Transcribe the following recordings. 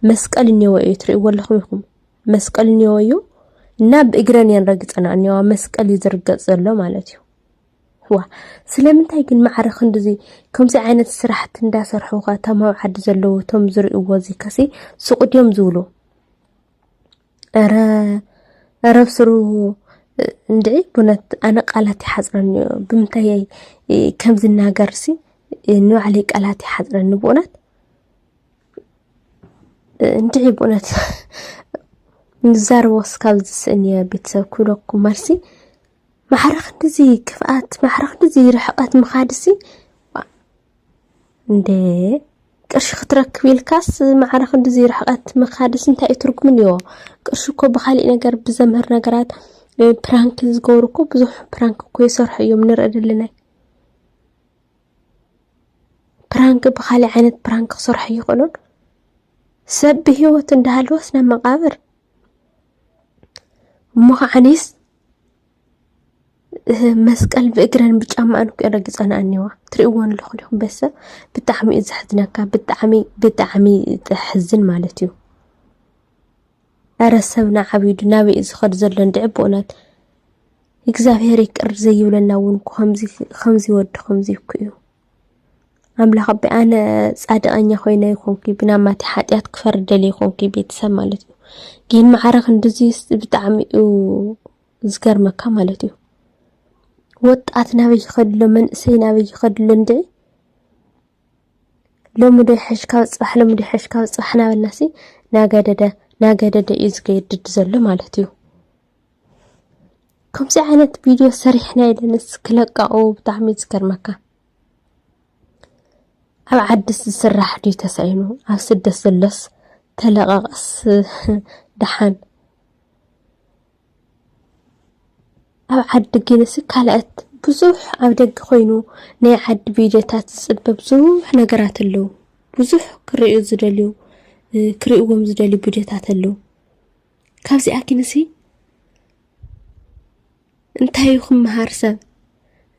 መስቀል እኒዎ እዩ ትርእይዎ ኣለኹም ኢኹም መስቀል እኒዎ እዩ እና ብእግረን እየን ረግፀና እኒዋ መስቀል እዩ ዝርገፅ ዘሎ ማለት እዩ ዋ ስለምንታይ ግን ማዕረ ክንድዚ ከምዚ ዓይነት ስራሕቲ እንዳሰርሑ ኸ እቶም ኣብ ዓዲ ዘለዉ እቶም ዝርእይዎ እዚ ከሲ ሱቕ ድዮም ዝብሉ እረ እረ ብስሩ እንድዒ ቡነት ኣነ ቃላት ይሓፅረኒ እዩ ብምንታይ ከም ዝናገርሲ ንባዕለይ ቃላት ይሓፅረኒ ብኡነት እንድዒ ብኡነት ንዛረቦስ ካብ ዝስእን እየ ቤተሰብ ክብለኩም መልሲ ማዕረ ክንድዚ ክፍኣት ማዕረ ክንድዚ ርሕቐት ምኻድሲ እንደ ቅርሺ ክትረክብ ኢልካስ ማዕረ ክንድዚ ርሕቐት ምኻድስ እንታይ እዩ ትርጉም እኒኦ? ቅርሺ እኮ ብኻሊእ ነገር ብዘምህር ነገራት ፕራንክ ዝገብሩ እኮ ብዙሕ ፕራንክ እኮ ይሰርሑ እዮም ንርኢ ድልናይ ፕራንክ ብኻሊእ ዓይነት ፕራንክ ክሰርሑ ይኽእሉን ሰብ ብሂወት እንዳሃለወስ ናብ መቃብር እሞ ከዓኒስ መስቀል ብእግረን ብጫመኣን እኮ እየን ረጊፀንኦ ዝኒሀዋ ትሪእዎ ኣለኹም ዲኹም ቤተሰብ ብጣዕሚ እዩ ዘሕዝነካ ብጣዕሚ ብጣዕሚ ዘሕዝን ማለት እዩ። ኧረ ሰብና ዓቢዱ ናበይ እዩ ዝኸድ ዘሎ እንድዒ ብእውነት እግዚኣብሄር ይቅር ዘይብለና እውን ከምዚ ከምዚ ወዲ ከምዚ እኮ እዩ። ኣምላኽ ኣቦይ ኣነ ጻድቐኛ ኮይነ ይኾንኩ ብናማቲ ሓጢኣት ክፈርድ ደልየ ይኾንኩ ቤተሰብ ማለት እዩ ግን ማዕረ ክንድዚስ ብጣዕሚ እዩ ዝገርመካ ማለት እዩ ወጣት ናበይ ይኸድሎ መንእሰይ ናበይ ይኸድሎ እንድዒ ሎሚ ዶ ይሐሽካ ብፅባሕ ሎሚ ዶ ይሐሽካ ብፅባሕ ናበልናሲ ናገደደ ናገደደ እዩ ዝገድድ ዘሎ ማለት እዩ ከምዚ ዓይነት ቪድዮ ሰሪሕና የለንስ ክለቃኡ ብጣዕሚ ዝገርመካ ኣብ ዓድስ ዝስራሕ ድዩ ተሳኢኑ ኣብ ስደት ዘሎስ ተለቐቐስ ደሓን ኣብ ዓዲ ግንሲ ካልኣት ብዙሕ ኣብ ደገ ኮይኑ ናይ ዓዲ ቪድዮታት ዝፅበ ብዙሕ ነገራት ኣለዉ። ብዙሕ ክርእዩ ዝደልዩ ክርእዎም ዝደልዩ ቪድዮታት ኣለዉ። ካብዚኣ ግንሲ እንታይ እዩ ክመሃር ሰብ?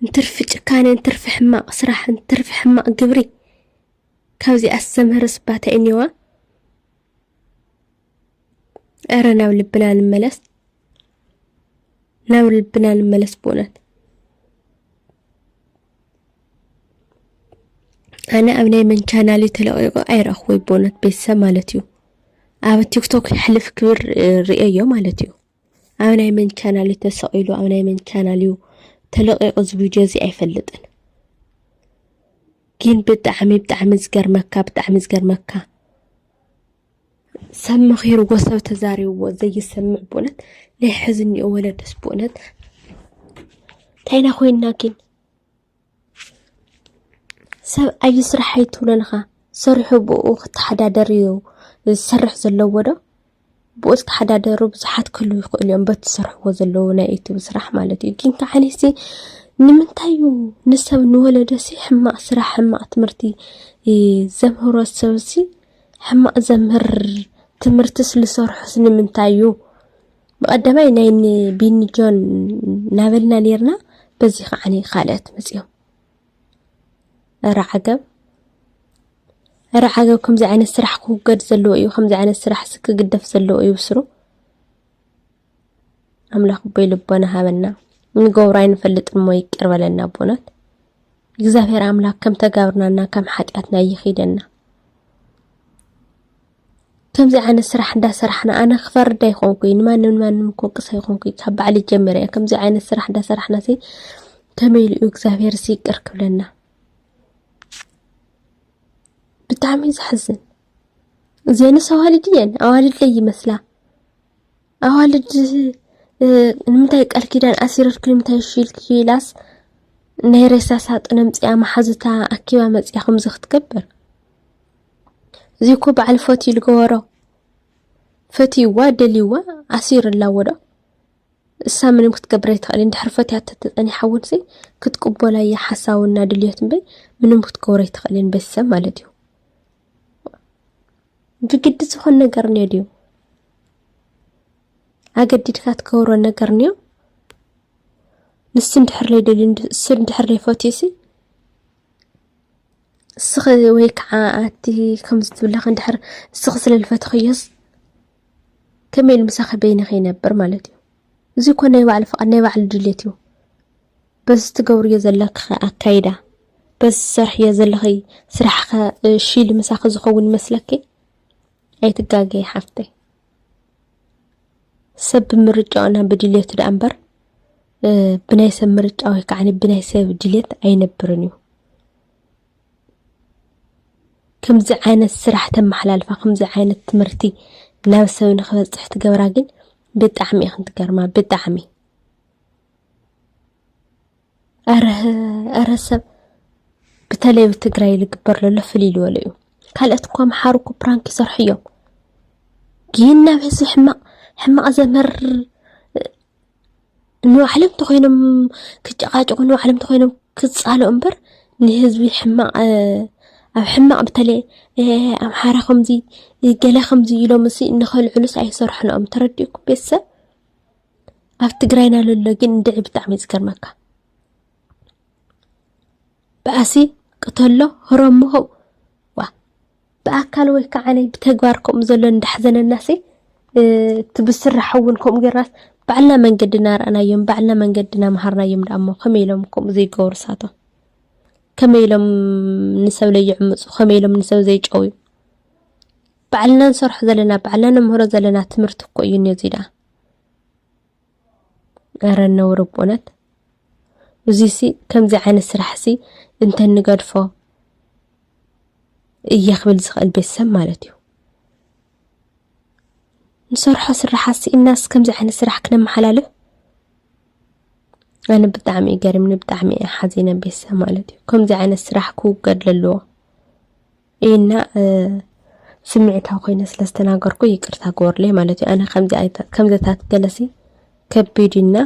እንትርፊ ጭካነ፣ እንትርፊ ሕማቕ ስራሕ፣ እንትርፊ ሕማቕ ግብሪ ካብዚኣ ዝተምህርስ ባታ እዩ እኒዋ። እረ ናብ ልብና ንመለስ፣ ናብ ልብና ንመለስ። ብእውነት ኣነ ኣብ ናይ መን ቻናል ተለቂቁ ኣይረኣኹወይ ብእውነት ቤተሰብ ማለት እዩ። ኣብ ቲክቶክ ሕልፍ ክብር ርእዮ ማለት እዩ። ኣብ ናይ መን ቻናል እዩ ተሰቂሉ፣ ኣብ ናይ መን ቻናል እዩ ተለቂቁ እዚ ቪድዮ እዚ ኣይፈልጥን። ግን ብጣዕሚ ብጣዕሚ ዝገርመካ ብጣዕሚ ዝገርመካ ሰብ መኺርዎ ሰብ ተዛሪብዎ ዘይሰምዕ ብኡነት ናይ ሕዚ እኒኦ ወለድስ ብኡነት ታይና ኮይንና ግን ሰብ ኣዩ ስራሕ ኣይትብሎንኻ ሰሪሑ ብኡ ክተሓዳደር እዩ ዝሰርሕ ዘለዎ ዶ ብኡ ዝተሓዳደሩ ብዙሓት ክህሉ ይኽእሉ እዮም በቲ ዝሰርሕዎ ዘለዉ ናይ ዩቱብ ስራሕ ማለት እዩ ግን ከዓ ንሲ ንምንታይ እዩ ንሰብ ንወለደሲ ሕማቕ ስራሕ ሕማቕ ትምህርቲ ዘምህሮ ሰብሲ ሕማቅ ዘምህር ትምህርትስ ልሰርሖስ ንምንታይ እዩ ብቀዳማይ ናይ ቢኒ ጆን ናበልና ነርና በዚ ከዓኒ ካልኦት መፅኦም እረ ዓገብ እረ ዓገብ ከምዚ ዓይነት ስራሕ ክውገድ ዘለዎ እዩ። ከምዚ ዓይነት ስራሕ ክግደፍ ዘለዎ እዩ ብስሩ ኣምላኽ ኣቦይ ልቦና ሃበና ንገብሮ ኣይንፈልጥን እሞ ይቅር በለና ኣቦናት እግዚኣብሔር ኣምላክ ከም ተጋብርናና ከም ሓጢኣትና ይኺደና ከምዚ ዓይነት ስራሕ እንዳሰራሕና ኣነ ክፈርድ ኣይኮንኩይ ንማንም ንማንም ክወቅስ ኣይኮንኩይ ካብ ባዕሊ ጀሚረ እየ ከምዚ ዓይነት ስራሕ እንዳሰራሕና ሲ ከመይ ኢሉ እዩ እግዚኣብሔር ሲ ይቅር ክብለና ብጣዕሚ ዘሕዝን እዚአንስ ኣዋልድ እየን ኣዋልድለይ ይመስላ ኣዋልድ ንምንታይ ቃል ኪዳን ኣሲረርኪ ንምንታይ እሺ ኢልኪ ኢላስ ናይ ሬሳ ሳጥን ኣምፂኣ መሓዙታ ኣኪባ መፂኣ ከምዚ ክትገብር እዚ እኮ በዓል ፈትዩ ዝገበሮ ፈትይዋ ደልይዋ ኣሲሩ ኣላዎ ዶ እሳ ምንም ክትገብር ኣይትኽእል እንድሕር ፈትያ ተተፀኒሓ እውን ሲ ክትቅበላ እያ ሓሳውና ድልዮት እምበይ ምንም ክትገብሮ ኣይትኽእልን ቤተሰብ ማለት እዩ ብግዲ ዝኾን ነገር እንዮ ድዩ ኣገዲድካ ትገብሮ ነገር እንዮ ንሱ እንድሕር ለይደልዩ ንሱ እንድሕር ለይፈትዩሲ እስኺ ወይ ከዓ ኣቲ ከምዚ ትብለኺ እንድሕር እስኺ ስለ ዝፈትኽዮስ ከመይ ኢሉ ምሳኺ በይንኺ ይነብር ማለት እዩ እዚ እኮ ናይ ባዕሉ ፍቓድ ናይ ባዕሉ ድሌት እዩ በዚ ትገብርዮ ዘለክኸ ኣካይዳ፣ በዚ ትሰርሕዮ ዘለኺ ስራሕኸ ሺል ምሳኺ ዝኸውን ይመስለኪ? ኣይትጋገዪ ሓፍተይ። ሰብ ብምርጫኡና ብድልየቱ ደኣ እምበር ብናይ ሰብ ምርጫ ወይ ከዓ ብናይ ሰብ ድልየት ኣይነብርን እዩ። ከምዚ ዓይነት ስራሕ ተመሓላልፋ ከምዚ ዓይነት ትምህርቲ ናብ ሰብ ንክበፅሕ ትገብራ ግን ብጣዕሚ ኢኽን ትገርማ ብጣዕሚ ኣረ ሰብ ብተለይ ኣብ ትግራይ ዝግበር ዘሎ ፍልይ ዝበለ እዩ። ካልኦት እኮ ኣምሓሩ እኮ ፕራንክ ይሰርሑ እዮም፣ ግን ናብ ህዝቢ ሕማቕ ሕማቕ ዘምህር ንባዕሎም እንተኾይኖም ክጨቃጨቁ ንባዕሎም እንተኾይኖም ክፃልኡ እምበር ንህዝቢ ሕማቕ ኣብ ሕማቕ ብተለይ ኣምሓራ ከምዚ ገለ ከምዚ ኢሎም ንኸልዕሉስ ኣይሰርሑን እዮም ተረዲኡኩም ቤተሰብ ኣብ ትግራይና ለሎ ግን እንድዒ ብጣዕሚ እዩ ዝገርመካ ብኣሲ ቅተሎ ህረሞ ሆው ዋ ብኣካል ወይ ከዓ ብተግባር ከምኡ ዘሎ እንዳሕዘነናሲ እቲ ብስራሕ እውን ከምኡ ጌርናስ ባዕልና መንገዲ እናረኣናዮም ባዕልና መንገዲ እናምሃርናዮም ደኣ እሞ ከመይ ኢሎም ከምኡ ዘይገብሩ ሳቶም ከመይ ኢሎም ንሰብ ለይዕምፁ ከመይ ኢሎም ንሰብ ዘይጨውዩ ባዕልና ንሰርሖ ዘለና ባዕልና ንምህሮ ዘለና ትምህርቲ እኮ እዩ ነዚ ዳ ኧረ ነውሪ ብእውነት እዚሲ ከምዚ ዓይነት ስራሕሲ እንተንገድፎ እየ ክብል ዝኽእል ቤተሰብ ማለት እዩ ንሰርሖ ስራሓሲ እናስ ከምዚ ዓይነት ስራሕ ክነመሓላልፍ ኣነ ብጣዕሚ እዩ ገሪምኒ ብጣዕሚ እየ ሓዚነ ቤተሰብ ማለት እዩ ከምዚ ዓይነት ስራሕ ክውገድ ለለዎ እና ስምዒታዊ ኮይነ ስለ ዝተናገርኩ ይቅርታ ግበሩለይ ማለት እዩ። ኣነ ከምዘታት ገለሲ ከቢድ እና